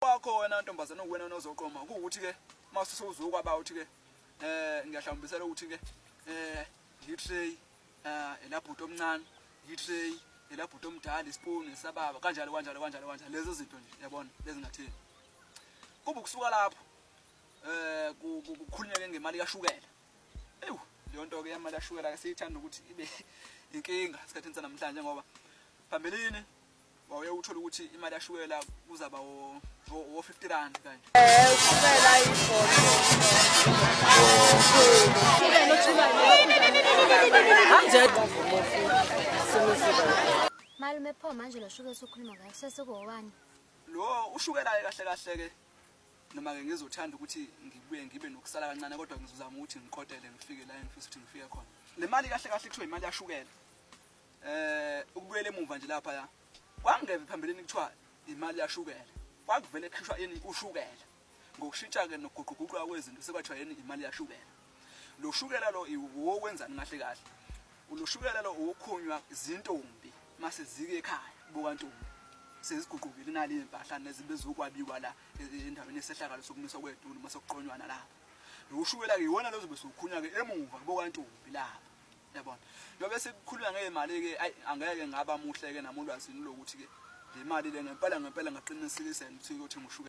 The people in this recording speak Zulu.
wakho wena ntombazana uwena nozoqoma ukuthi ke mase sewuzokwa ba uthi ke eh ngiyahlambisela ukuthi ke eh ngitray eh elabhuti omncane ngitray elabhuti omdala ispoon isababa kanjalo kanjalo kanjalo kanjalo lezo zinto nje yabona lezingathini kuba ukusuka lapho eh kukhulunyeke ngemali kashukela ewu leyo nto ke yamali kashukela ke siyithanda ukuthi ibe inkinga esikhathini sanamhlanje ngoba phambilini wawuye uthole ukuthi imali yashukela kuzaba wo-fifty rand kanje malume pho manje lo shukela sokhuluma ngayo sesikuwowani lo ushukelayo kahle kahle-ke noma-ke ngizothanda ukuthi ngibuye ngibe nokusala kancane kodwa ngizozama ukuthi ngikotele ngifike la engifisa ukuthi ngifike khona le mali kahle kahle kuthiwa imali yashukela eh ukubuyela emuva nje lapha ya kwangeve phambilini kuthiwa imali yashukela kwakuvele khishwa yini ushukela ngokushintsha ke nokuguquguquka kwezinto sekwathiwa yini imali yashukela lo shukela lo iwokwenzani kahle kahle lo shukela lo uwokhunywa izintombi mase zike ekhaya buka ntombi seziguqukile nali impahla nezinto ezokwabiwa la e, e, endaweni yesehlakalo sokumiswa kwedulu mase kuqonywana lapha lo shukela ke iwona lozobe sokhunywa ke emuva buka ntombi lapha Yabona. Njengoba sekukhulunywa ngezimali ke ayi angeke ngaba muhle ke nami ulwazini lokuthi ke le mali le ngempela ngempela ngaqiniseka ukuthi ukuthi ngushuka